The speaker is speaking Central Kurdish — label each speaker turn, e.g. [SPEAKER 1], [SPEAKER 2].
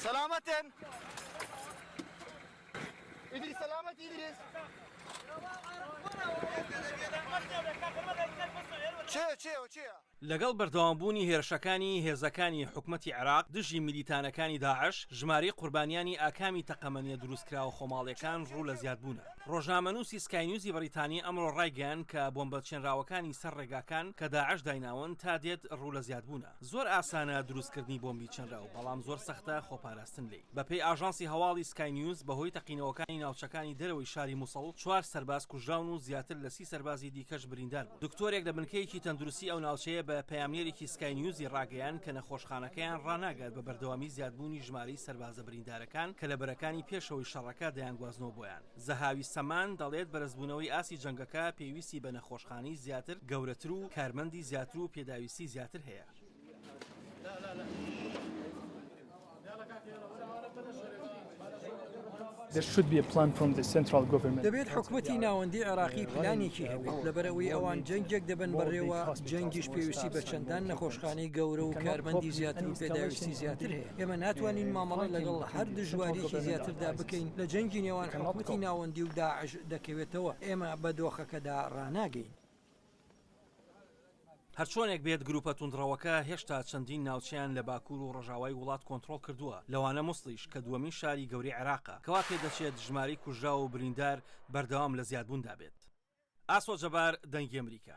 [SPEAKER 1] سەلامەتن ئیدریس سەلامەت ئیدریس چێ چێ چێە لەگەڵ
[SPEAKER 2] بەردەوامبوونی هێرشەکانی هێزەکانی حکومەتی عێراق دژی میلیتانەکانی داعش ژماری قوربانیانی ئاکامی تەقەمەنیە دروستکراوە خۆماڵیەکان ڕوو لە زیادبوونە ڕۆژنامەنووسی سکاینیوزی بەریتانی ئەمڕۆ ڕایگەیان کە بۆمبە چێنراوەکانی سەر ڕێگاکان کە داعش دایناون تا دێت ڕوو لە زیادبوونە زۆر ئاسانە دروستکردنی بۆمبی چنراو، بەڵام زۆر سەختە خۆپاراستن لێی. بەپێی ئاژانسی هەواڵی سکای نیوز، بەهۆی تەقینەوەکانی ناوچەکانی دەرەوەی شاری موسڵ، چوار سەرباز کوژراون و زیاتر لە سی سەربازی دیکەش بریندار بوون. دکتۆرێک لە بنکەیەکی تەندروستی ئەو ناوچەیە بە پەیامنێرێکی سکای نیوزی ڕاگەیاند کە نەخۆشخانەکەیان ڕاناگات بە بەردەوامی زیادبوونی ژمارەی سەربازە بریندارەکان کە لە بەرەکانی پێشەوەی شەڕەکە دەیانگوازنەوە بۆیان. زەهاوی سەمان دەڵێت، بەرزبوونەوەی ئاستی جەنگەکە پێویستی بە نەخۆشخانەی زیاتر، گەورەتر و کارمەندی زیاتر و پێداویستی زیاتر هەیە.
[SPEAKER 3] دەبێت حکومەتی ناوەندی عێراقی پلانێکی هەبێت، لەبەرئەوەی ئەوان جەنگێک دەبەن بەڕێوە، جەنگیش پێویستی بە چەندان نەخۆشخانەی گەورە و کارمەندی زیاتر و پێداویستی زیاتر هەیە. ئێمە ناتوانین مامەڵە لەگەڵ هەر دژواریەکی زیاتردا بکەین لە جەنگی نێوان حکومەتی ناوەندی و داعش دەکەوێتەوە، ئێمە بە دۆخەکەدا ڕاناگەین.
[SPEAKER 2] هەرچۆنێک بێت گروپە توندڕەوەکە هێشتا چەندین ناوچەیان لە باکوور و ڕۆژاوای وڵات کۆنترۆڵ کردووە لەوانە موسڵیش کە دووەمین شاری گەورەی عێراقە کەوا پێدەچێت ژمارەی کوژراو و بریندار بەردەوام لە زیادبووندا بێت. ئاسۆ جەبار، دەنگی ئەمریکا.